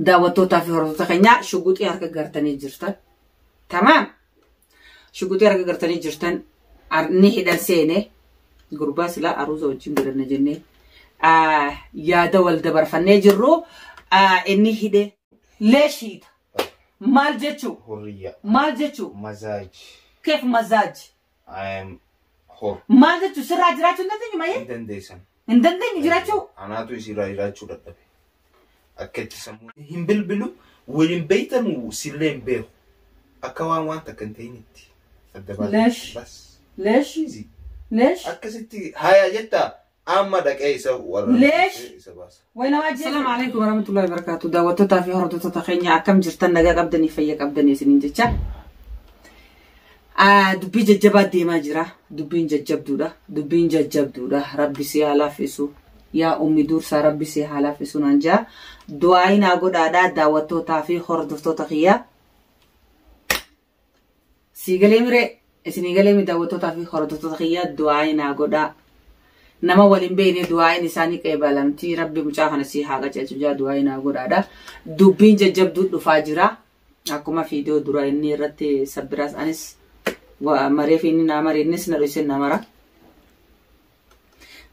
Daawwattootaa fi hordoftoota keenyaa shuguxii harka gartanii jirtan. Tamaam. Shuguxii harka gartanii jirtan ni hidhan seene gurbaa silaa aruuza wajjin godhanna jennee yaada wal dabarfannee jirru inni hidhe leeshiita. Maal jechuu? Hurriya. Maal jechuu? Mazaaj. Keef mazaaj. I am whole. Maal jechuun sirraa jiraachuu hin dandeenyu malee? Hin dandeessan. Hin dandeenyu jiraachuu? Anaatu isirraa jiraachuu dadhabe. Akka itti sammuu hin bilbilu waliin beektamu sillee hin beeku. Akka waan waan takka hin ta'initti. Adda baasa. Lesh. Bas. Lesh. Easy. Lesh. Akkasitti haayaa jettaa Amma dhaqee isa warra Leesh. isa baasa. Way nama ajjeesu. Assalamu alaikum warahmatullahi wabarakatuh. Daawwattoota fi hordoftoota keenya akkam jirtan nagaa qabdanii fayya qabdanii isiniin jecha. Ah, Dubbii jajjabaa deemaa jira. Dubbiin jajjabduudha. Dubbiin jajjabduudha. Rabbi si haa laaffisu. Yaa ummi dursaa rabbi si haa laaffisu naan jaa. Du'aayi naa godhaadhaa daawwattootaa fi hordoftoota kiyyaa. Sii galee miree isinii galee mi daawwattootaa fi hordoftoota kiyyaa du'aayi naa godhaa. Nama waliin beekne du'aayin isaanii qeebalamti rabbi mucaa kana sii haa qajeelchu jaa du'aayi naa godhaadha. Dubbiin jajjabduu dhufaa jira. Akkuma fiidiyoo dura inni irratti sabbiraas anis maree fi inni naa maree innis na dhoyse na mara.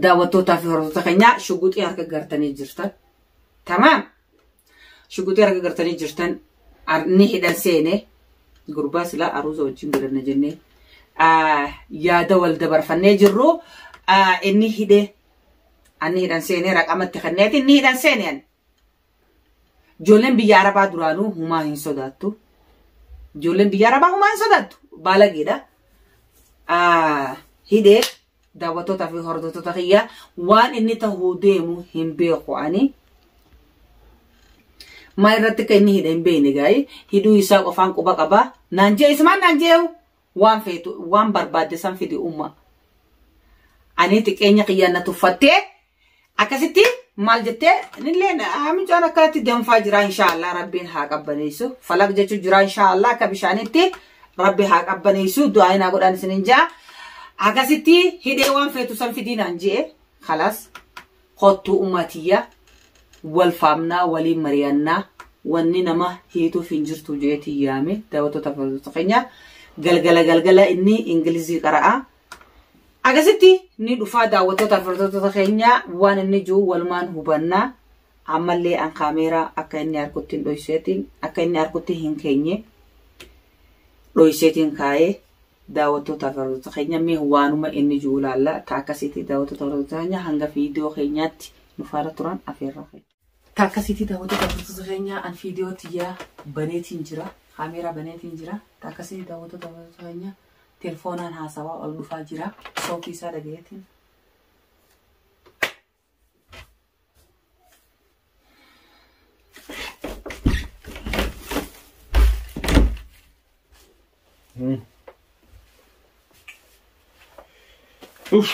Daawwattootaa fi hordoftoota keenyaa shuguxii harka gartanii jirtan. Tamaam! Shuguxii arga gartanii jirtan ni hidhan seene gurbaa silaa aruuza wajjin godhanna jennee yaada wal dabarfannee jirru inni hidhe anni hidhan seene raqamatti kenneeti inni hidhan seene ani. Ijoolleen biyya Arabaa duraanuu humaa hin sodaattu. Ijoolleen biyya Arabaa humaa hin sodaattu. Baalageedha. Hidhee Daawwattoota fi hordoftoota kiyyaa waan inni tahuu deemu hin beeku ani. Maa irratti akka inni hidhe hin beekne gaa'ii hidhuu isaa qofaan quba qabaa naan jee isumaan naan jeehu waan feetu waan barbaadde san fidi umma. Ani xiqqeenya kiyyaan na tuffattee Akkasitti maal jettee nilleen mucaan akkanatti danfaa jira inshaallah rabbiin haa qabbaneessu falaq jechuu jira inshaallah akka bishaanitti rabbi haa qabbaneessu du'aa inaa godhaan isin hin jaa akkasitti hidhee waan feetu san fidiinaan je'e kalaas kottuu ummatiyya wal faamnaa waliin mari'annaa wanni nama hiituuf hin jirtu jeetii yaame daawwattoota fayyadamtoota keenya galgala galgala inni ingilizii qara'a Akkasitti ni dhufaa daawwattoota hordoftoota keenya waan inni jiru walumaan hubanna. Ammallee an kaameeraa akka inni harkutti hin dhoyseetiin akka inni harkutti hin keenye dhoyseetiin kaa'ee daawwattoota hordoftoota keenya mee waanuma inni jiru ilaalla. Taa akkasitti daawwattoota hordoftoota keenya hanga viidiyoo keenyaatti nu faana turan afeerraa keenya. Ka akkasiitii daawwattoota hordoftoota keenyaa an fiidiyoo tiyyaa baneetiin jira. Kaameeraa baneetiin jira. Ka akkasiitii daawwattoota hordoftoota keenyaa telefoonaan haasawaa ol dhufaa jira. Sootii isaa dhagayeetiin. Uff.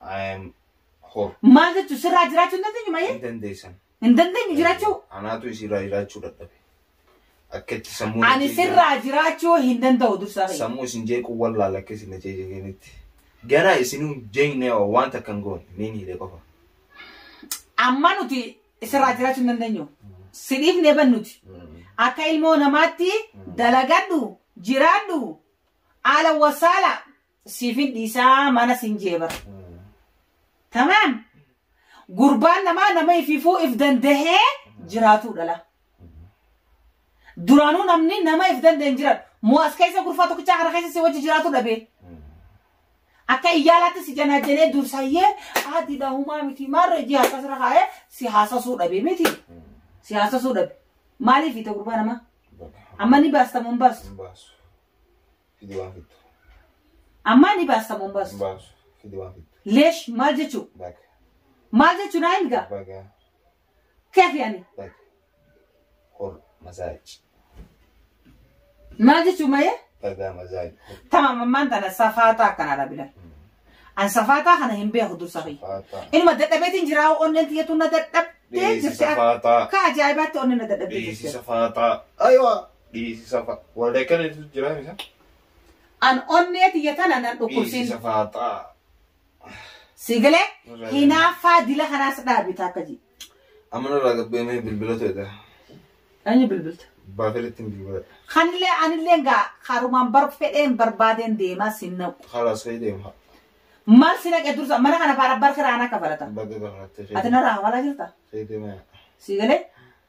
I am whole. Maal jechuun sirraa jiraachuu hin dandeenyu maayee? Hin dandeessan. Hin dandeenyu jiraachuu? Anaatu isirraa jiraachuu dadhabe. Akka itti sammuu. Ani sirraa jiraachuu hin danda'u dursaa fayyada. Sammuu isin jeequu wallaala akka isin jeeqanitti. Ganaa isinuu jeeqnee wanta kan goone niin hidhee qofa. Amma nuti sirraa jiraachuu hin dandeenyu. Sidhiif ni bannuti. Akka ilmoo namaatti dalagadhu jiraadhu haala wasaala siifin dhiisaa mana siin jee bara. Tamaam gurbaan namaa nama ififuu if dandahee jiraatuu dhala. Duraanuu namni nama if danda'e hin jiraatu. Moo as keessa gurfaa tokkichaa kana keessa si wajji jiraatu dhabee. Akka iyyaalaatti si janaajanee dursayyee haati dahumaa miti maarra ijji haasasirra kaa'ee si haasasuu dhabee miti. Si haasasuu dhabe. Maaliif ita gurbaa namaa? Amma ni baasta moo hin baastu? Fidi waan fittu. Ammaa ni baasta moo hin baastu? Baasu. Fidi waan fittu. Leesh maal jechuu? Baga. Maal jechuu naa hin gaa? Baga. Keefi ani. Baga. Hor mazaaj. Maal jechuu mayee? Baga mazaaj. Tamam ammaan tana safaataa akkana dhabila. An safaataa kana hin beeku dursa kiyya. Faataa. Inuma dadhabeetiin jiraa onneen tiyyatu na dadhabdee Dhiyeessi jirti. safaataa. Akka ajaa'ibaatti onneen na dadhabdee Dhiyeessi jirti. safaataa. Aywa. Dhiisisa fa'a. Walda akkana jechuutu jira misa. An onnee tiyya tana nan dhukkubsiin. Dhiisisa fa'a ta'a. Sigilee Irraa hinaaffaa dila kanaas dhaabita akka ji. Amma nurraa gabbeemee bilbila to'ata. Anyi bilbilta. Baafelitti hin bilbila. Kanillee anillee gaa karumaan bar fedheen barbaadeen deemaa sin naqu. Haala sooyi deema. Maal si naqe dursa mana kana faana bar kiraana kafalata. Baga gafalattee Ati narraa hawalaa jirta? Kee deema. Sigilee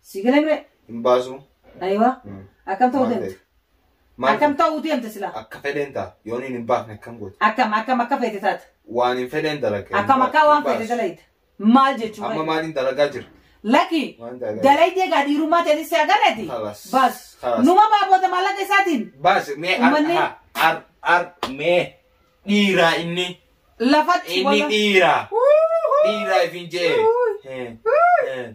Si galee mee? Hin baasu. Ayiwa. Mm. Akkam ta'uu Maal deemta? Maal Akkam ta'uu deemta silaa? akka fedheen ta'a. Yoon hin hin baafne akkam goota. Akkam akkam akka feete taata? Waan hin fedheen dalaga. Akkam akka waan feete dalayda? Maal jechuu Amma fa'i? maaliin dalagaa jira? Laki Waan dalagaa jira. dalaydee gaa dhiirummaa ta'e si agarreeti? Kalas. Baas. Kalas. Numa baaboota maallaqa isaatiin Baas mee ar Uummanni- ha- ar ar mee dhiiraa inni lafatti inni wala- dhiiraa Uuhuu. dhiiraa ifin jee. Uuhuu. Eh, eh.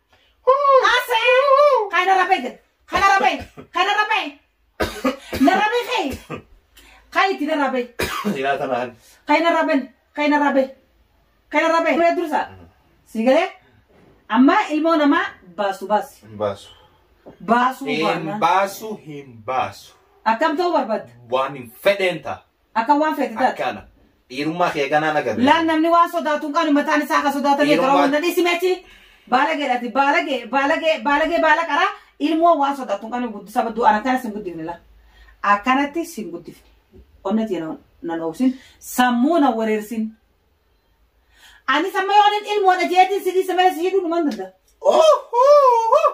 Haasa'ee kana rabee jedha. Kana rabee. Kana rabee. Na rabee kee. Kaa itti na rabee. Ilaa tanaan. Kaa na rabeen. Kaa na rabee. Kaa na rabee. Turee dursaa. Si galee. Amma ilmoo namaa baasu baasi. Hin baasu. Baasuu Hin baanaan. baasu hin baasu. Akkam ta'uu barbaadda? Waan hin fedheen ta'a. Akka waan feete taate. Akkana. Dhiirummaa kee ganaan agarre. Laal namni waan sodaatu hin qabne mataan isaa akka sodaatan Dhiirummaa- eegaraa wanta dhiisi meechi. Baalagee dhati baalagee baalagee baalagee baala qaraa ilmoo waan sodaatu hin qabne guddisa badduu aan akkana sin guddifne la. Akkanatti sin guddifne. Onna tiyya na- na dhoobsin sammuu na wareersin. Ani samma yoo anin ilmoodha jeetiin si dhiisa malee si hidhuu dhuman danda'a. Oh!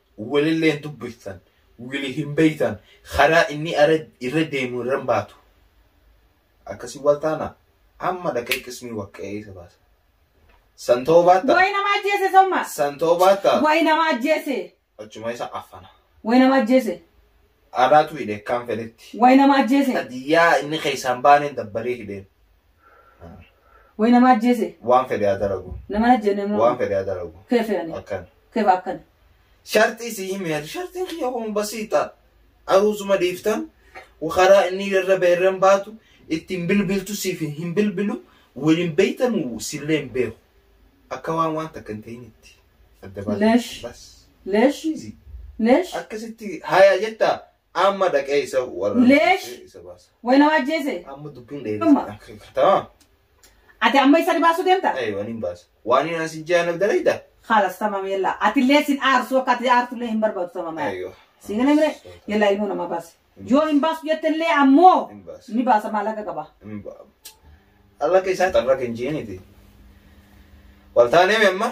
Walillee hin dubbiftan, wili hin beektan, karaa inni irra deemu irra hin baatu. Akkasii wal taana amma dhaqee qismii waqqa'ee isa baasa. San ta'uu baatta. Wayi nama ajjeese somma. San ta'uu baatta. Wayi nama ajjeese. Achuma isa affana. Wayi nama ajjeese. Anaatu hidhe akkaan fedhetti. Wayi nama ajjeese. Hadiyyaa inni keessaan baaneen dabbaree hidheen. Wayi nama ajjeese. Waan fedhe haa dalagu. Nama ajjeene immoo. Waan fedhe haa dalagu. Kee fe'anii. Akkan. Kef akkana. Sharxii si himi ati sharxiin kiyya kun basiixa aruuzuma dhiifta karaa inni irra beerran baatu ittiin bilbiltu siif hin bilbilu waliin beeytan sillee hin beeku akka waan waan takka hin ta'initti adda baatu Leesh. bas Leesh. Easy. Leesh. akkasitti haya jetta Amma dhaqee isa warra Leesh. isa baasa. Way nama ajjeese. Amma dubbiin Dhuma. dheeressa. Tamam. Ati amma isa dhibaasuu deemta? Ayi waan hin baasa. Waan hin asi jaanaf dalayda. Khalas tamam yalla. Ati illee sin aarsu akka ati aartu illee hin barbaadu tamam. Ayyo. Siin galee mire yalla ilmoo nama baasi. Yoo hin baasu jette illee ammoo Hin baasa. ni baasa maallaqa qaba. Hin ba- Alla keessaa xarra kan jiiniti. Wal taanee amma